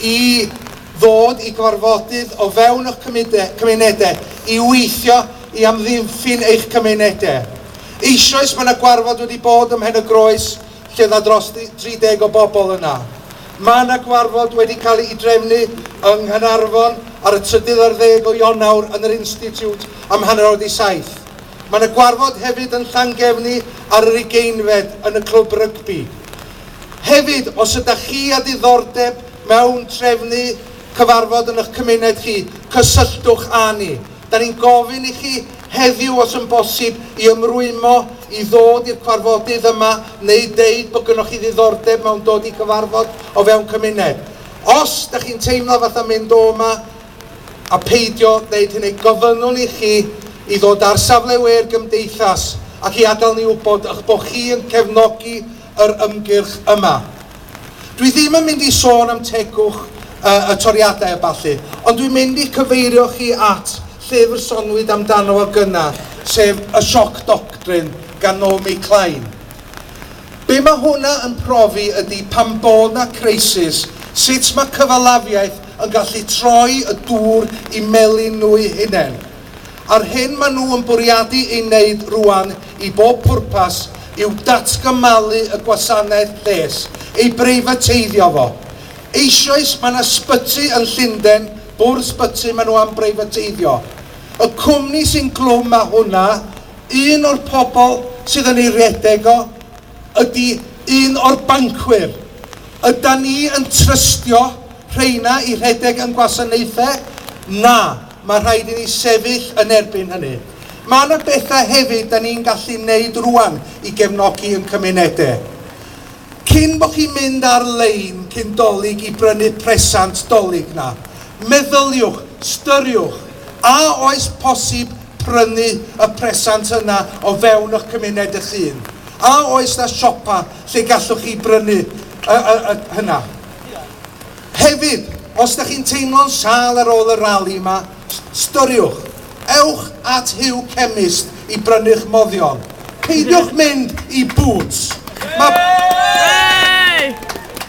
i ddod i gorfodydd o fewn eich cymunedau i weithio i amddiffyn eich cymunedau. Eisoes mae yna gwarfod wedi bod ym Mhen y Groes lle oedd 'na dros 30 o bobl yna. Mae yna gwarfod wedi cael ei drefnu yng Nghaernarfon ar y trydydd ar ddeg o Ionawr yn yr Institute am hanner awr 'di saith. Mae yna gwarfod hefyd yn Llangefni ar yr ugeinfed yn y clwb rygbi. Hefyd, os ydych chi â diddordeb mewn trefnu cyfarfod yn eich cymuned chi, cysylltwch â ni. Da ni'n gofyn i chi heddiw os yn bosib i ymrwymo i ddod i'r cwarfodydd yma neu deud bod gynnoch chi ddiddordeb mewn dod i gyfarfod o fewn cymuned. Os da chi'n teimlo fatha mynd o yma a peidio wneud hynny, gofynnwn i chi i ddod ar safle we'r gymdeithas ac i adael ni wybod eich bod chi yn cefnogi yr ymgyrch yma. Dwi ddim yn mynd i sôn am tegwch y, y toriadau a ballu, ond dwi'n mynd i'ch cyfeirio chi at llyfr sonwyd amdano fo gynnar, sef Y Shock Doctrine gan Naomi Klein. Be mae hwnna yn profi ydy pan bod na crisis, sut mae cyfalafiaeth yn gallu troi y dŵr i melin nhw'u hunain. a'r hyn maen nhw yn bwriadu ei wneud rŵan i bob pwrpas yw datgymalu y gwasanaeth lles, ei breifateiddio fo. Eisoes, mae yna sbyty yn Llunden, bwrdd sbyty maen nhw am breifateiddio. Y cwmni sy'n glwm â hwnna, un o'r pobl sydd yn ei redeg o, ydy un o'r bancwyr. Ydan ni yn trystio rheina i redeg ein gwasanaethau? Na. Mae rhaid i ni sefyll yn erbyn hynny. Mae yna bethau hefyd da ni'n gallu wneud rwan i gefnogi yn cymunedau. Cyn bod chi'n mynd ar lein cyn Dolig i brynu presant Dolig 'na, meddyliwch, styriwch, a oes posib prynu y presant yna o fewn y'ch cymuned y'ch hun? A oes 'na siopa lle gallwch chi brynu y, y, y, hynna? Hefyd, os dych chi'n teimlo'n sâl ar ôl y rali 'ma, ystyriwch, ewch at Huw Chemist i brynu'ch moddion. Peidiwch mynd i Boots! Mae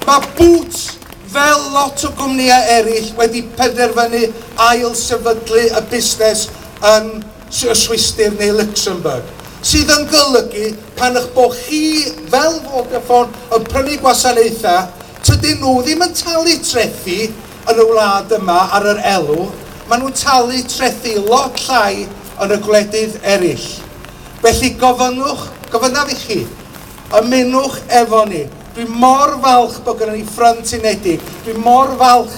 Mae Boots, fel lot o gwmnïau eraill, wedi penderfynu ail-sefydlu y busnes yn y Swistir neu Luxembourg, sydd yn golygu pan eich bod chi, fel Vodafone, yn prynu gwasanaethau, Tydyn nhw ddim yn talu trethi yn y wlad yma ar yr elw maen nhw'n talu trethi lot llai yn y gwledydd eraill. Felly gofynnwch, gofynnaf i chi, ymunwch efo ni. Dwi mor falch bod gynnon ni Ffrynt Unedig. Dwi mor falch